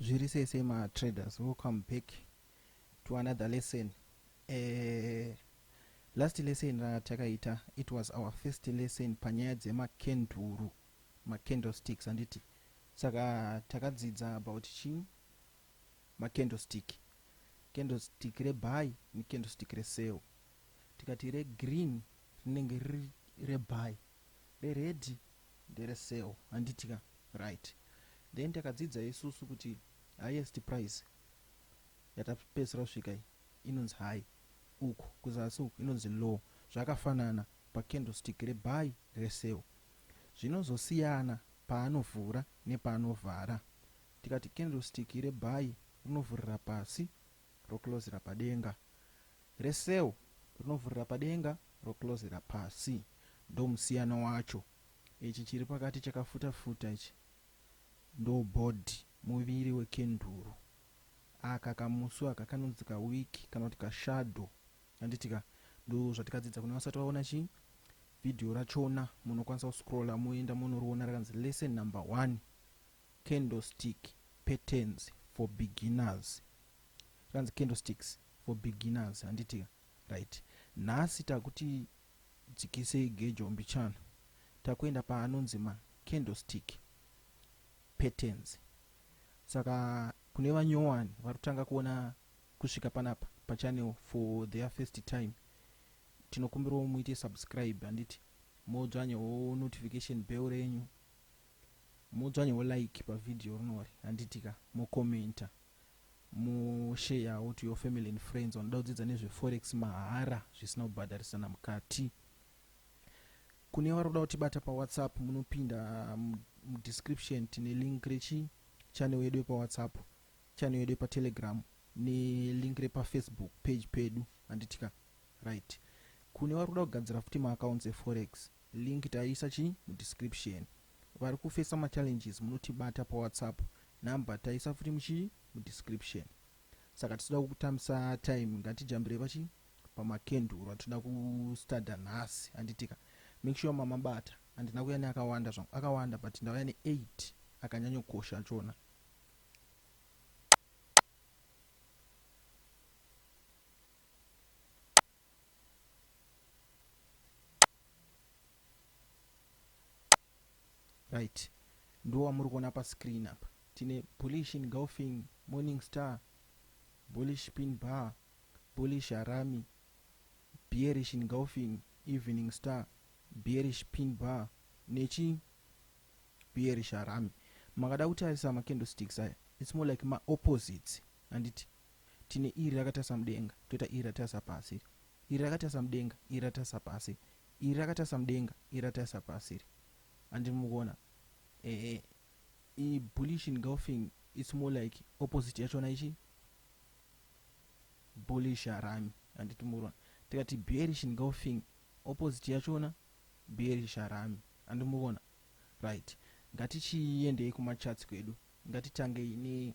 zviri sei sei matraders welcome back to another lesson uh, last lesson ratakaita it was our first lesson panyaya dzemakenduru macandlesticks handiti saka takadzidza about chii macandlestick candlestick rebuy necandlestick resale tikati regreen rinenge riri rebuy re red ndere sale handiti ka right then takadzidza isusu kuti highest price yatapedzisira kusvika iyi inonzi high uku kuzasi uku inonzi low zvakafanana pa candlestick re buy re sale zvinozosiyana paanovhura nepaanovhara tikati candlestick re buy rinovhurira pasi roklozera padenga, reCell rinovhurira padenga roklozera pasi. Ndomusiyano wacho. Ichi chiri pakati chakafuta futa ichi ndobody, muviri wekenduru. Aka kamusu aka kanonzi kawick kana kuti kashadow handitika? Ndozvatikadzidza kune vasati vaona chii video rachona munokwanisa kuscroller moenda monoriona rakanzi lesson number one. Candlestick patterns for beginners zvanzi candlesticks for beginners handiti ka right nhasi takuti dzikisei gejo mbichana takuenda paanonzi ma candlestick patterns saka kune vanyowani vari kutanga kuona kusvika panapa pachannel for their first time tinokumbirawo muite subscribe handiti modzvanyawo notification bell renyu Modzvanyawo like pa video rinori handiti ka, mo commenter, mo sharewo to your family and friends vanoda kudzidza nezve forex mahara zvisina kubhadharisana mukati. Kune vari kuda kutibata pa WhatsApp munopinda mu description tine link rechi channel yedu yepa WhatsApp, channel yedu yepa Telegram ne link repa Facebook page pedu handiti ka. Right. Kune vari kuda kugadzira futi ma accounts e forex Link taisa chi mu description. Vari ku facer ma challenges munotibata pa whatsapp number taisa futi muchi mu description. Saka tisuda kukutambisa time ngatijambire pachi pama kenduru atinoda ku studer nhasi handitika. Make sure mama bata handina kuya ne akawanda zvangu akawanda but ndauya ne 8 akanyanyo kosha achona. right ndiwo wamuri kuona pascreen apa tine bullish engulfing morning star bullish pin bar bullish harami bearish engulfing evening star bearish pin bar nechi bearish harami makada kutarisa macandlesticks aya its more like maopposites handiti Tine iri rakatarisa mudenga, toita iri ratarisa pasi iri. Iri rakatarisa mudenga, iri ratarisa pasi. Iri rakatarisa mudenga, iri ratarisa pasi iri. Handiti muri kuona? Ehe. I bullish engulfing it's more like opposite yachona ichi bullish harami. Handiti muri kuona? Tikati bearish engulfing opposite yachona bearish harami. Handiti muri kuona? Right. Ngatichiendei kumacharts kwedu. Ngatitangei ne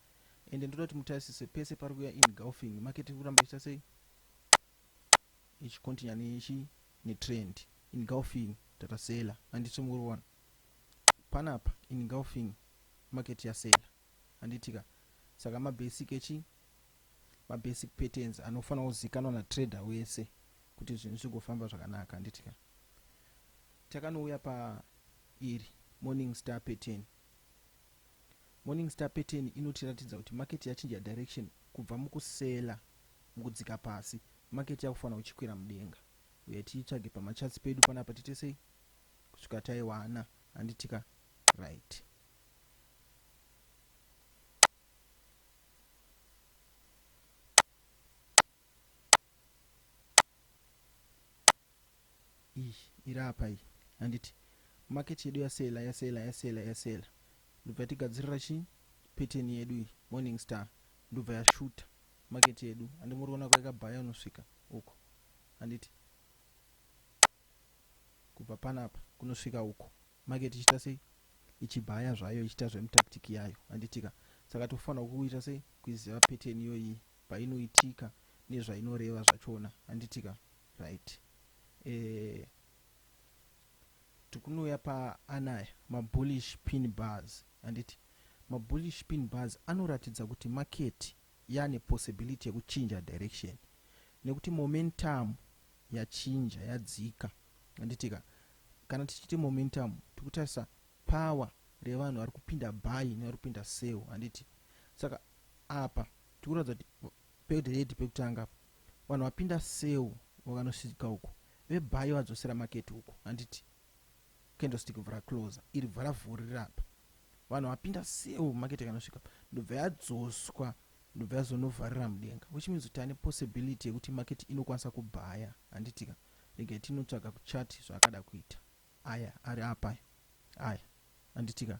ende ndoda kuti mutarisise pese pari kuya engulfing market iri kuramba ichita sei ichicontinua nechi netrend engulfing tata sela handiti muri kuona panapa engulfing market yasela handitika saka mabasic echi mabasic patterns anofanira kuzikanwa natrader wese kuti zvinhu zvigofamba zvakanaka handitika takanouya pa iri morning star pattern Morning Star pattern inotiratidza kuti market yachinja direction kubva muku seller mukudzika pasi market yakufana kuchikwira mudenga. Huyai tiitsvage pama charts pedu panapa tiite sei kusvika taiwana handitika right. iyi iri apa iyi handiti market yedu yasela yasela yasela yasela ndobva yatigadzirira chi pattern yedu iyi morning star ndobva yashuta market yedu handi muri kuona kwaikabhaya unosvika uko handiti kubva panapa kunosvika uko Market ichiita sei? Ichibaya zvayo ichiita zvemu tactic yayo handitika? Saka tikufanirwa kuita sei? Kuiziva pattern iyoyi painoitika nezvainoreva zvachona handitika? Right. Eh, tikunouya paanaya ma bullish pin bars handiti? Ma bullish pin bars anoratidza kuti market yane possibility yekuchinja direction nekuti momentum yachinja yadzika handitika kana tichiti momentum tikutarisa power revanhu vari kupinda buy nevari kupinda sell handiti saka apa tikuratidza kuti pered pekutanga vanhu vapinda sell vakanosvika uku vebuy vadzosera market uku handiti candlestick vhara closer iri vhara vhurira apa vanhu vapinda sale market ikanosvika ndobva yadzoswa ndobva yazonovharira mudenga which means kuti ane possibility yekuti market inokwanisa kubhaya handitika regai tinotsvaga kuchati zvaakada kuita aya ari apa aya handitika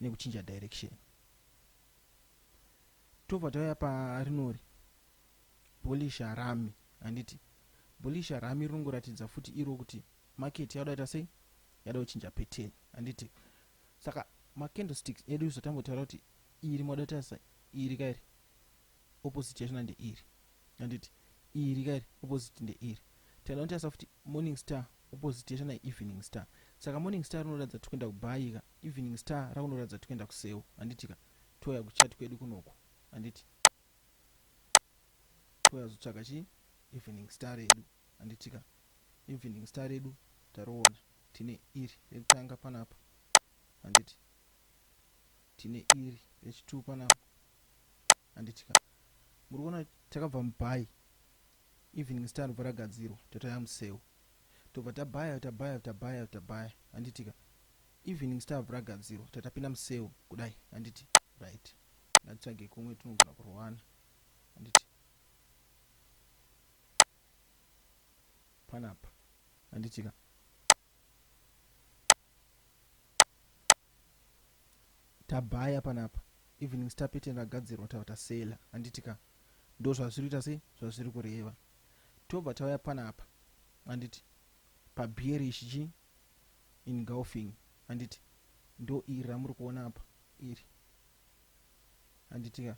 nekuchinja direction tobva tauya parinori bolisha rami handiti bolisha rami rinongoratidza futi iro kuti market yauda ita sei yada kuchinja pattern handiti saka macandlesticks edu zvatambotaura kuti iri moda tarisa iri kairi opposite yachona ndeiri handiti iri kairi opposite ndeiri tinotarisa futi morning star Opposite yacho na Evening Star. Saka Morning Star rinoratidza tiri kuenda kuBhayi ka, Evening Star rakunoratidza tiri kuenda kuSeu, handiti ka? Touya kuchat kwedu kunoku, handiti? Touya kuzotsvaga chii? Evening Star redu, handiti ka? Evening Star redu tariona, tine iri rekutanga panapa, handiti? Tine iri rechituu panapa, handiti ka? Muri kuona takabva muBhayi Evening star robva ragadzirwa totouya museu tobva tabaya tabaya tabaya tabaya handitika Evening star robva ragadzirwa tatapinda museu kudai handiti right ngatitsvage kumwe tinogona kurowana handiti panapa handitika tabaya panapa evening star pattern ragadzirwa tava tasela handiti ka ndo zvazviri kuita sei zvazviri kureva tobva tauya panapa handiti pabearish chi engulfing handiti ndo iri ramuri kuona apa iri handiti ka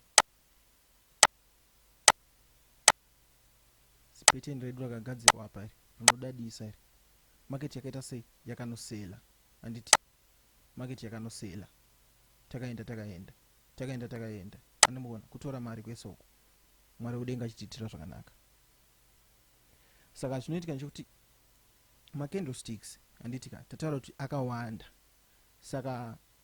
zipeteni redu rakagadzirwa apa iri rinodadisa iri market yakaita sei yakanosela handiti market yakanosela takaenda takaenda takaenda takaenda andimuona kutora mari kwese uku mwari udenga achitiitira zvakanaka saka chinoitika nechekuti macandlesticks handiti ka tataura kuti akawanda saka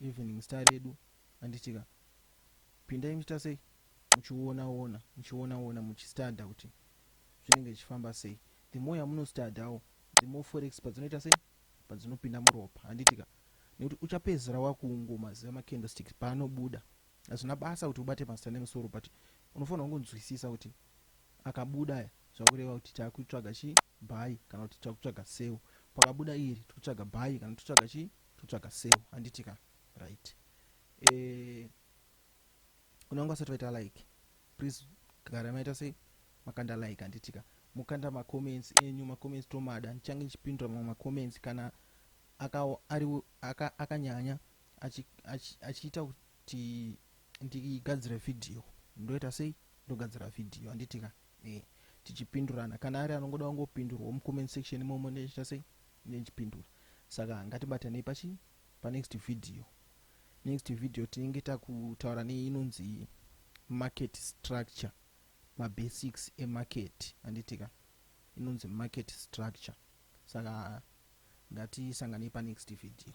Evening star redu anditika pindai muchiita sei muchiona ona muchiona ona muchistadha kuti zvinenge zvichifamba sei the more yamunostadhawo the more forex padzinoita sei padzinopinda muropa handitika nekuti uchapedzisira wakungo maziva macandlesticks paanobuda hazvina basa kuti ubate mazita nemusoro but unofanira kungonzwisisa kuti akabuda aya zvakureva kuti takutsvaga chii bhayi kana kuti takutsvaga seu pakabuda iri tikutsvaga bhayi kana tikutsvaga chii totsvaga seo handiti ka right eh, kuna vangu vasati vaita like please gara maita sei makanda like handiti ka mukanda macomments enyu macomments tomada ndichange ndichipindura mamwe macomments kana akanyanya aka, aka achiita kuti ndigadzire vhidhiyo ndoita sei ndogadzira vhidhiyo handiti ka eh, tichipindurana kana ari anongoda kungopindurwa mucomment section imomo ndoita sei Ndini ndichipindura saka ngatibatanei pachi pa next video. Next video tinenge takutaura ne inonzi market structure ma basics e market handiti ka inonzi market structure saka ngatisanganei pa next video.